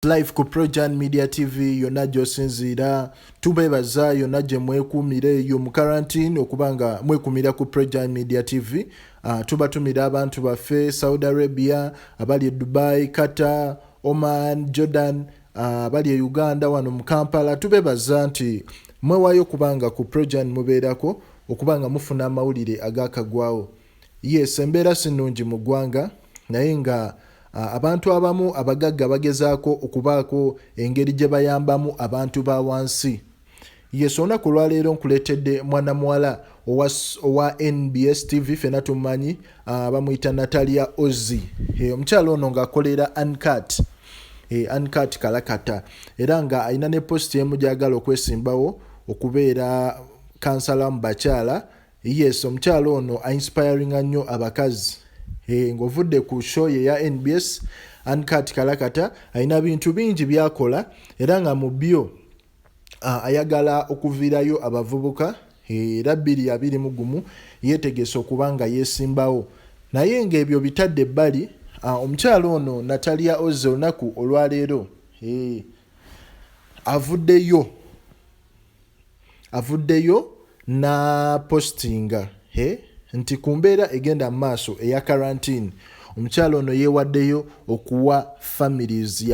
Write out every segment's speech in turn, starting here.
life ku projan media tv yonna gyosinziira tubeebaza yonna gye mwekuumira eyo mu karantine okuba nga mwekumira ku projan media tv uh, ah, tubatumira abantu baffe saudi arabia abali e dubai qatar oman jordan ah, abali uh, e uganda wano mu kampala tubeebaza nti mwewayo kubanga ku projan mubeerako okuba nga mufuna amawulire agakagwawo Yes embeera sinungi mu ggwanga naye nga abantu abamu abagagga bagezaako okubaako engeri gye bayambamu abantu ba wansi yes olunaku olwaleero nkuleetedde mwana muwala owa nbs tv fena tumanyi bamuyita natalia ozi omukyala ono ngaakolera ancat ancat kalakata era nga alina ne posti emu gyagala okwesimbawo okubeera kansala mu bakyala Yes omukyala ono a inspiringa nnyo abakazi eh, ng'ovudde ku show ye ya nbs ancat kalakata alina bintu bingi byakola era nga mu byo ayagala okuviirayo abavubuka eh, era bbiri abiri mu gumu yeetegese okuba nga yeesimbawo naye ng'ebyo bitadde ebbali omukyala ono natalia oze olunaku olwaleero eh, avuddeyo avuddeyo na postinga he nti ku mbeera egenda mu maaso eya karantini omukyala ono yeewaddeyo okuwa families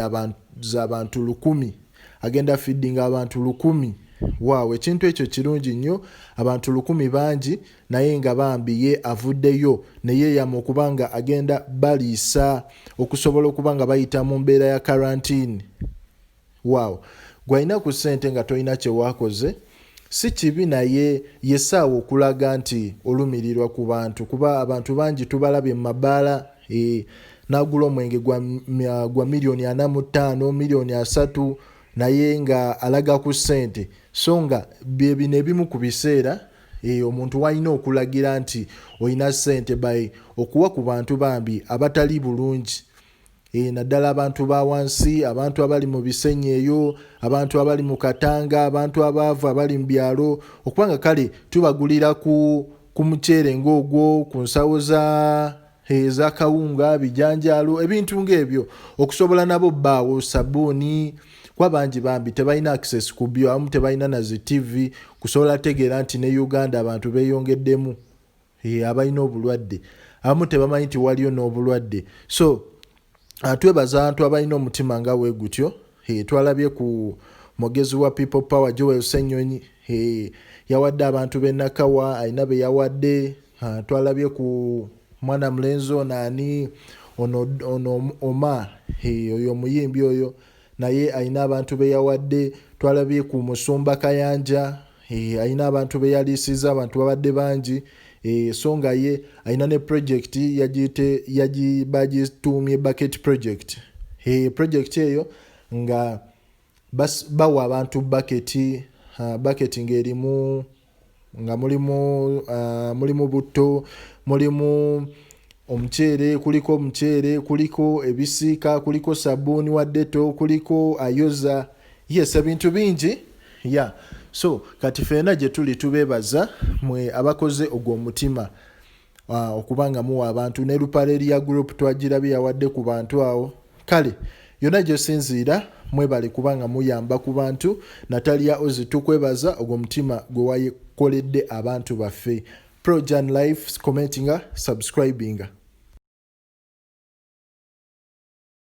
z'abantu lukumi agenda fiddinga abantu lukumi waawo ekintu ekyo kirungi nnyo abantu lukumi bangi naye nga bambi ye avuddeyo neyeeyama okuba nga agenda baliisa okusobola okuba nga bayita mu mbeera ya karantini Waawo. Gwe alina ku ssente nga tolina kye wakoze si kibi naye y'essaawa okulaga nti olumirirwa ku bantu kuba abantu bangi tubalabye mu mabaala eh, n'agula omwenge gwa, gwa miliyoni ana mu ttaano miliyoni asatu naye nga alaga ku ssente so nga bye bino ebimu ku biseera e, omuntu walina okulagira nti olina ssente by okuwa ku bantu bambi abatali bulungi Eeh naddala abantu ba wansi, abantu abali mu bisenyi eyo, abantu abali mu Katanga, abantu abaavu abali mu byalo okuba nga kale tubagulira ku ku muceere ng'ogwo, ku nsawo za eza kawunga, bijanjaalo ebintu ng'ebyo okusobola nabo bbaawo sabbuuni kuba bangi bambi tebalina access ku byo abamu tebalina na zi ttivi kusobola tegeera nti ne Uganda abantu beeyongeddemu. Eh, abalina obulwadde abamu tebamanyi nti waliyo n'obulwadde so ah, twebaza abantu abalina omutima nga we gutyo eh, twalabye ku mugezi wa people power joel senyonyi eh, yawadde abantu benakawa alina be yawadde ah, twalabye ku mwana mulenzi ono ani ono oma oyo omuyimbi oyo Naye alina abantu be yawadde. Twalabye ku Musumba Kayanja, hee, alina abantu be yaliisizza, abantu babadde bangi, hee, so nga ye alina ne pulojekiti yagiyite, yagi, bagituumye Bucket Project, hee, pulojekiti eyo nga bas, bawa abantu bbaketi, haa, bbaketi ng'erimu. nga mulimu uh, mulimu butto mulimu omuceere kuliko omuceere kuliko ebisiika kuliko sabuuni wa deto kuliko ayoza yes ebintu bingi ya yeah. so kati feena gye tuli tubeebaza mwe abakoze ogwo omutima Ah, okuba nga muwa abantu ne lupareria group twagirabye yawadde ku bantu awo kale yonna gyosinziira mwebale kuba nga muyamba ku bantu natalia ozi tukwebaza ogwo mutima gwe wakoledde abantu baffe projan life commentinga subscribinga